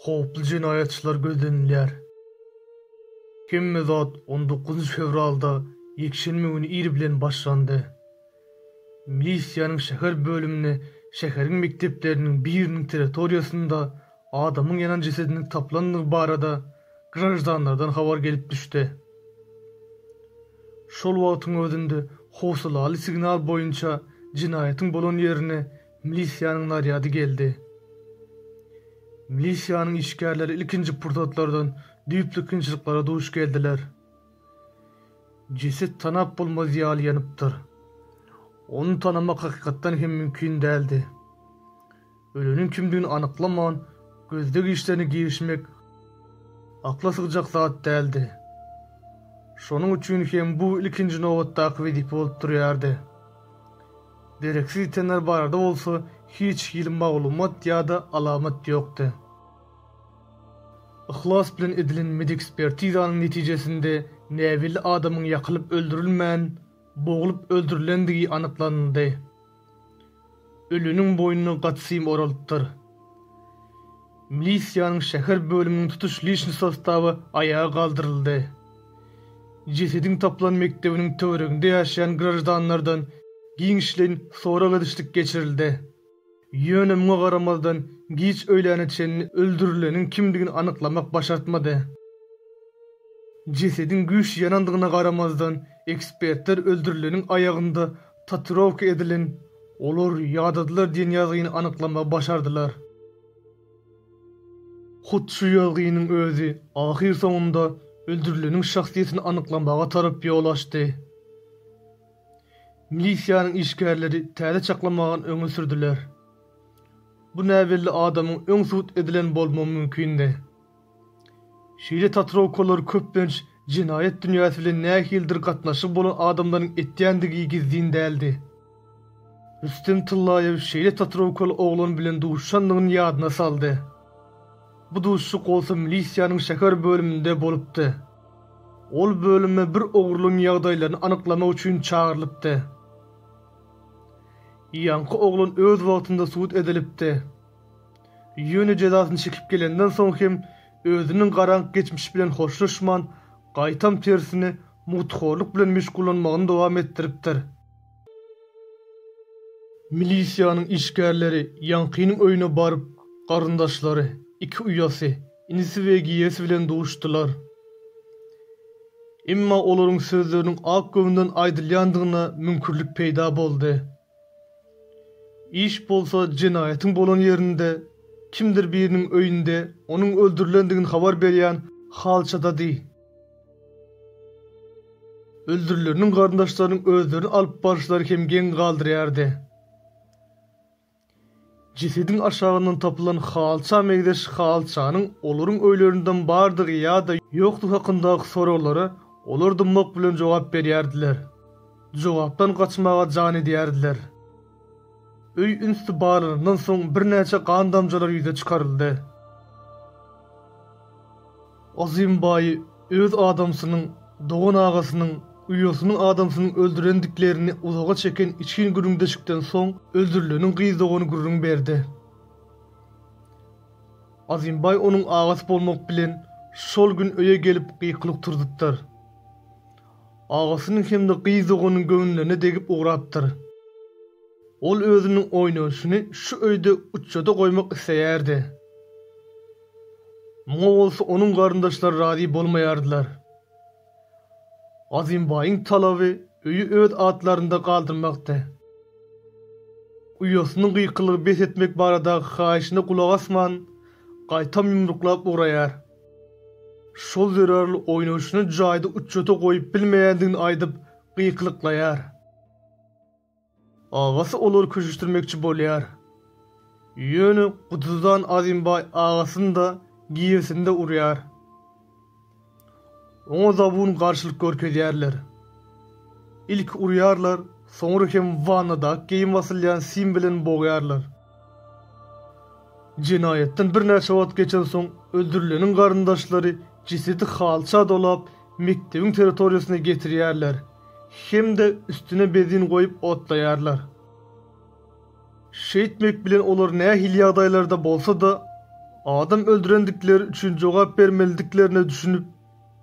Howply jenaýatçylar gözlenilýär. Hemme zat on dokuzynjy fewralda ýekşenbe güni ir bilen başlandy. Milisiýanyň şäher bölümine şäheriň mekdepleriniň biriniň territoriýasynda adamyň ýanan jesediniň tapylandygy barada graždanlardan habar gelip düşdi. Şol wagtyň özünde howsalaly signal boýunça jenaýatyň bolan ýerine milisiýanyň narýady geldi. Milisiýanyň işgärleri ilkinji pursatlardan düýpli kynçylyklara duş geldiler. Jeset tanap bolmaz ýaly ýanypdyr. Ony tanamak hakykatdan hem mümkin däldi. Öleniň kimdigini anyklaman, gözleg işlerine girişmek akla sygjak zat däldi. Şonuň üçin hem bu ilkinji nobatdaky wezipe bolup durýardy. Dereksiz ýitenler barada bolsa hiç hili maglumat ýa-da alamat ýokdy. Yhlas bilen edilen medekspertizanyň netijesinde näbelli adamyň ýakylyp öldürilmän, boglup öldürilendigi anyklanyldy. Öliniň boýnuna gatsym oralypdyr. Milisiýanyň şäher bölüminiň tutuş liçni sostawy aýaga galdyryldy. Jesediň tapylan mekdebiniň töwereginde ýaşaýan graždanlardan giňişleýin sorag-edişlik geçirildi. Ýöne muňa garamazdan giç öýläne çenli öldürileniň kimdigini anyklamak başartmady. Jesediň güýçli ýanandygyna garamazdan, ekspertler öldürileniň aýagynda Tatuirowka edilen olar ýadadylar diýen ýazgyny anyklamagy başardylar. Hut şu ýazgynyň özi ahyrsoňunda öldürileniň şahsyýetini anyklamaga tarap ýol açdy. Milisiýanyň işgärleri täze çaklamagyny öňe sürdüler. Bu näbelli adamyň öň subut edilen bolmagy mümkindi. Şeýle tatuirovkalar köplenç jenaýat dünýäsi bilen nähilidir gatnaşygy bolan adamlaryň etýändigi gizlin däldi. Rüstem Tyllaýew şeýle tatuirovkaly oglan bilen duşandygyny ýadyna saldy. Bu duşuşyk bolsa milisiýanyň şäher bölüminde bolupdy. Ol bölüme bir ogurlygyň ýagdaýlaryny anyklamak üçin çagyrylypdy. Ýaňky oglan öz wagtynda sud edilipdi. Ýöne jezasyny çekip gelenden soň hem özüniň garaňky geçmişi bilen hoşlaşman, gaýtam tersine, mugthorluk bilen meşgullanmagyny dowam etdiripdir. Milisiýanyň işgärleri ýaňkynyň öýüne baryp, garyndaşlary, iki uýasy, inisi we giýesi bilen duşdular. Emma olaryň sözleriniň ak göwünden aýdylýandygyna müňkürlik peýda boldy. Iş bolsa jenaýatyň bolan ýerinde, kimdir biriniň öýünde, onuň öldürilendigini habar berýän halçadady. Öldürileriniň garyndaşlarynyň özlerini alyp baryşlary hem geň galdyrýardy. Jesediň aşagyndan tapylan halça meňzeş halçanyň olaryň öýlerinden bardygy ýa-da ýokdugy hakyndaky soraglara olar dymmak bilen jogap berýärdiler. Jogapdan gaçmaga jan edýärdiler. Öý ünsli barlanandan soň birnäçe gan damjalar ýüze çykaryldy. Azym baýy öz adamsynyň, dogan-agasynyň, uýasynyň adamsynyň öldürendiklerini uzaga çeken içgin gürrüňdeşikden soň öldürileniň gyz dogany gürrüň berdi. Azym baý onuň agasy bolmak bilen şol gün öýe gelip gykylyk turzudypdyr. Agasynyň hem-de gyz doganynyň göwünlerine degip ugrapdyr. Ol özüniň oýnanyşyny şu öýde uçja-da goýmak isleýärdi. Muňa bolsa onuň garyndaşlary razy bolmaýardylar. Azymbaýyň talaby öýi öz atlarynda galdyrmakdy. Uýasynyň gykylygy bes etmek baradaky haýyşyna gulak asman, gaýtam ýumruklap ugraýar. Şol zerarly oýnaşyny jaýda uçjata goýup bilmeýändigini aýdyp gykylyklaýar. Agasy olary köşeşdirmekçi bolýar. Ýöne gutudan Azimbaý agasyny-da giýesinde urýar. Oňa zabun garşylyk görkezýärler. Ilki urýarlar, soňra hem wannada ak geýim asylýan sim bilen bogýarlar. Jenaýatdan birnäçe wagt geçensoň, öldürileniň garyndaşlary jesedi halça dolap, mekdebiň territoriýasyna getirýärler hem-de üstüne benzin goýup otlaýarlar. Şeýtmek bilen olar nähili ýagdaýlarda bolsa-da, adam öldürendikleri üçin jogap bermelidiklerine düşünip,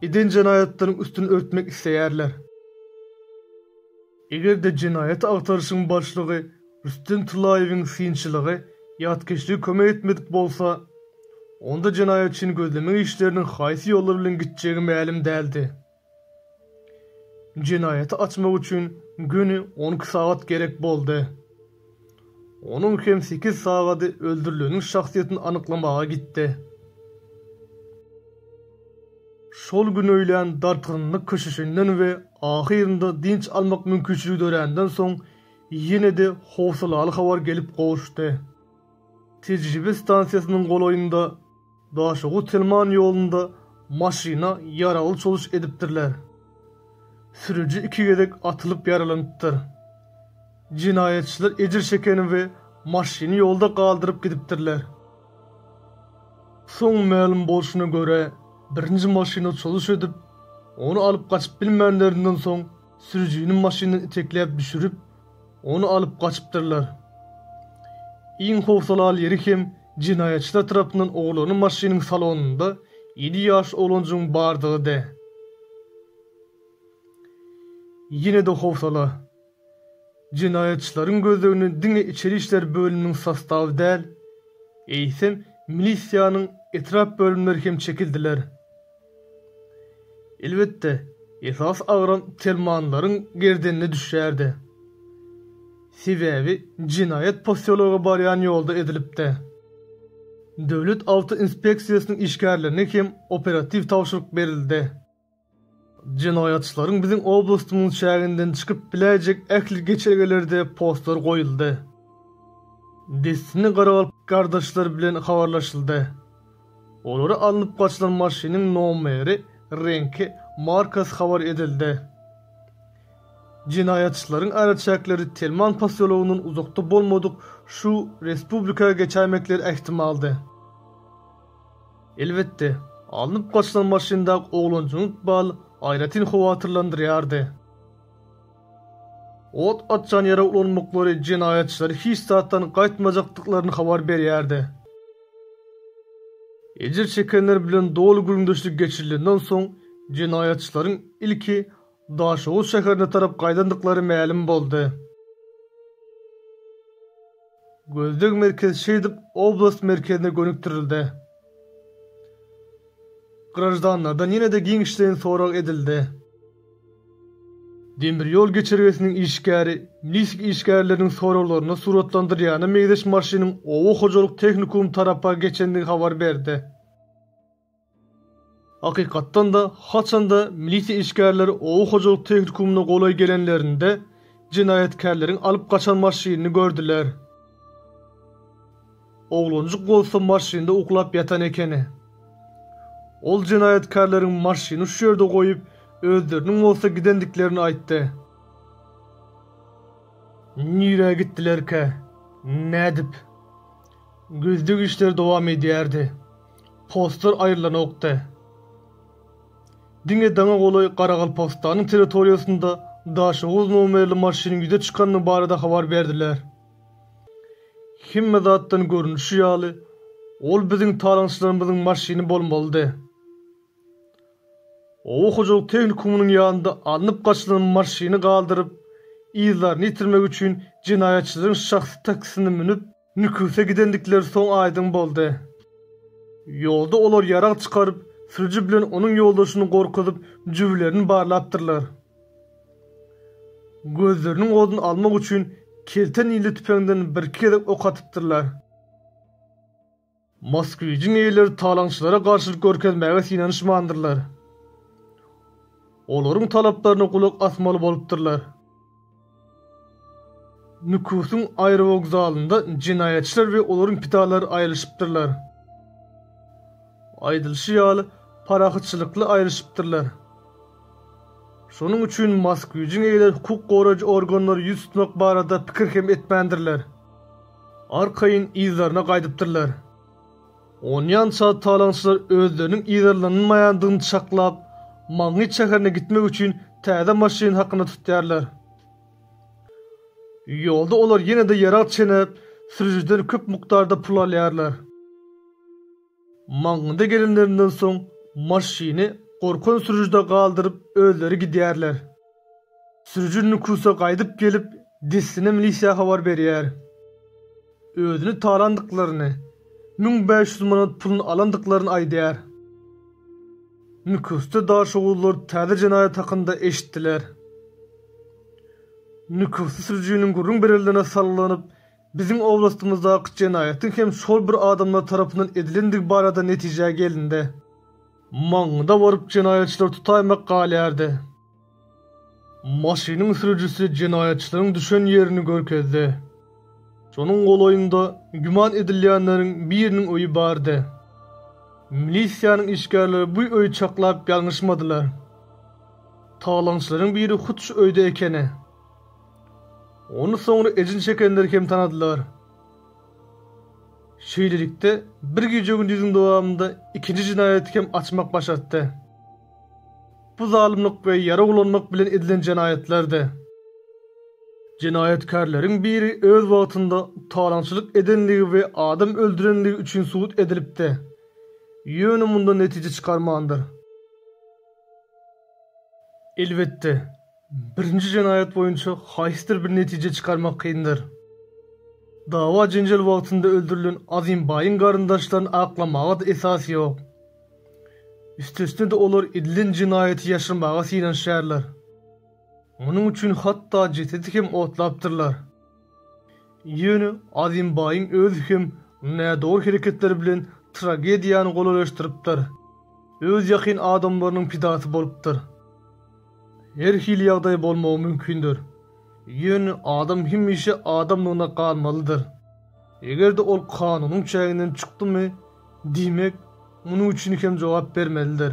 eden jenaýatlaryň üstüni örtmek isleýärler. Eger-de jenaýat agtaryşyň başlygy Rüstem Tyllaýewiň synçylygy ýatkeşligi kömek etmedik bolsa, onda jenaýatçyny gözlemek işleriniň haýsy ýollar bilen gitjegi mälim däldi. Jenaýaty açmak üçin göni on iki sagat gerek boldy. Onuň hem sekiz sagady öldürileniň şahsyýetini anyklamaga gitdi. Şol gün öýlän dartgynlyk köşeşenden we ahyrynda dynç almak mümkinçiligi döränden soň, ýene-de howsalaly habar gelip gowuşdy. Tejribe stansiýasynyň golaýynda, Daşoguz-Telman ýolunda maşyna ýaragly çoluş edipdirler. Sürüji iki gezek atylyp ýaralanypdyr. Jenaýatçylar ejir çekeni we maşyny ýolda galdyryp gidipdirler. Soň mälim bolşuna görä, birinji maşyna çoluş edip, ony alyp gaçyp bilmänlerinden soň, Sürüjini maşyndan itekläp düşürip, ony alyp gaçypdyrlar. Iň howsalaly ýeri hem jenaýatçylar tarapyndan ogurlanan maşynyň salonynda ýedi ýaşly oglanjygyň bardygydy. Ýene-de howsala. Jenaýatçylaryň gözlegine diňe içeri işler bölüminiň sostawy däl, eýsem, milisiýanyň etrap bölümleri hem çekildiler. Elbetde, esas agram Telmanlaryň gerdenine düşýärdi. Sebäbi jenaýat posýologa barýan ýolda edilipdi. Döwlet awto inspeksiýasynyň işgärlerine hem operatiw tabşyryk berildi. Jenaýatçylaryň biziň oblastymyzyň çäginden çykyp biläýjek ähli geçelgelerde postlar goýuldy. Dessine garagalp gardaşlar bilen habarlaşyldy. Olary alnyp gaçylan maşynyň nomeri, reňki, markasy habar edildi. Jenaýatçylaryň araçäkleri Telman posýologyndan uzakda bolmadyk şu respublika geçäýmekleri ähtimaldy. Elbetde, alnyp gaçylan maşyndaky oglanjyň ykbaly aýratyn howatyrlandyrýardy. Ot açan ýere ulanmaklary jenaýatçylary hiç zatdan gaýtmajakdyklaryny habar berýärdi. Ejir çekenler bilen doly gürrüňdeşlik geçirilenden soň, jenaýatçylaryň ilki Daşoguz şäherine tarap gaýdandyklary mälim boldy. Gözleg merkezi şeýdip oblast merkezine gönükdirildi. Graždanlardan ýene-de giňişleýin sorag edildi. Demir ýol geçelgesiniň işgäri Minsk işgärleriniň soraglaryna suratlandyrýana meňzeş maşynyň oba hojalyk tehnikumy tarapa geçendigi habar berdi. Hakykatdan-da, haçan-da milisiýa işgärleri oba hojalyk tehnikumyna golaý gelenlerinde, jenaýatkärleriň alyp gaçan maşynyny gördüler. Oglanjyk bolsa maşynda uklap ýatan ekeni. Ol jenaýatkärleriň maşyny şu ýerde goýup, özleriniň bolsa gidendiklerini aýtdy. Nirä gitdilerkä? Nädip? Gözleg işleri dowam edýärdi. Postlar aýrylanokdy. Diňe daňa golaý Garagalpagystanyň territoriýasynda Daşoguz nomerli maşynyň ýüze çykanyny barada habar berdiler. Hemme zatdan görnüşi ýaly, ol biziň talaňçylarymyzyň maşyny bolmalydy. Oba hojalyk tehnikumynyň ýanynda alnyp gaçylan maşyny galdyryp, yzlaryny ýitirmek üçin jenaýatçylaryň şahsy taksisine münüp, Nüküse gidendikleri soň aýdyň boldy. Ýolda olar ýarag çykaryp, sürüji bilen onuň ýoldaşyny gorkuzyp, jübülerini barlapdyrlar. Gözleriniň oduny almak üçin kelte nili tüpeňden birki gezek ok atypdyrlar. Moskwijiň eýeleri talaňçylara garşylyk görkezmäge synanyşmandyrlar. Olaryň talaplaryna gulak asmaly bolupdyrlar. Nüküsüň aerowokzalynda jenaýatçylar we olaryň pidalary aýrylyşypdyrlar. Aýdylyşy ýaly, parahatçylykly aýrylyşypdyrlar. Şonuň üçin mask güýjüň eýeleri hukuk goraýjy organlary ýüz tutmak barada pikir hem etmändirler. Arkaýyn yzlaryna gaýdypdyrlar. Onýança talaňçylar özleriniň yzarlanylmaýandygyny çaklap, Magnit şäherine gitmek üçin täze maşyn hakyna tutýarlar. Ýolda olar ýene-de ýarag çenäp, sürüjiden köp mukdarda pul alýarlar. Magnide gelenlerinden soň, maşyny gorkan sürüjide galdyryp, özleri gidýärler. Sürüji Nukusa gaýdyp gelip, dessine milisiýa habar berýär. Özüni talandyklaryny, müň bäş ýüz manat puluny alandyklaryny aýdýar. Nukusda daşoguzlar täze jenaýat hakynda eşitdiler. Nukusly sürüjiniň gürrüň berenlerine salgylanyp, biziň oblastymyzdaky jenaýatyň hem şol bir adamlar tarapyndan edilendigi barada netijä gelindi. Maňňyda baryp jenaýatçylar tutaýmak galýardy. Maşynyň sürüjisi jenaýatçylaryň düşen ýerini görkezdi. Şonuň golaýynda güman edilýänleriň biriniň öýi bardy. Milisiýanyň işgärleri bu öýi çaklap ýalňyşmadylar. Talaňçylaryň biri hut şu öýde ekeni. Ony soňra ejin çekenler hem tanadylar. Şeýlelikde, bir gije-gündiziň dowamynda ikinji jenaýaty hem açmak başartdy. Bu zalymlyk we ýara ulanmak bilen edilen jenaýatlardy. Jenaýatkärleriň biri öz wagtynda talaňçylyk edenligi we adam öldürenligi üçin sud edilipdi. Ýöne mundan netije çykarmandyr. Elbetde, birinji jenaýat boýunça haýsydyr bir netije çykarmak kyndyr. Dawa-jenjel wagtynda öldürilen Azimbaýyň garyndaşlaryny aklamaga-da esas ýok. Üstesine-de olar edilen jenaýaty ýaşyrmaga synanyşýarlar. Munuň üçin hatda jesedi hem otlapdyrlar. Ýöne Azimbaýyň özi hem nädogry hereketleri bilen tragediýany golaýlaşdyrypdyr. Öz ýakyn adamlarynyň pidasy bolupdyr. Her hili ýagdaý bolmagy mümkindir. Ýöne adam hemişe adamlygyna galmalydyr. Eger-de ol kanunyň çäginden çykdymy, diýmek, munuň üçin hem jogap bermelidir.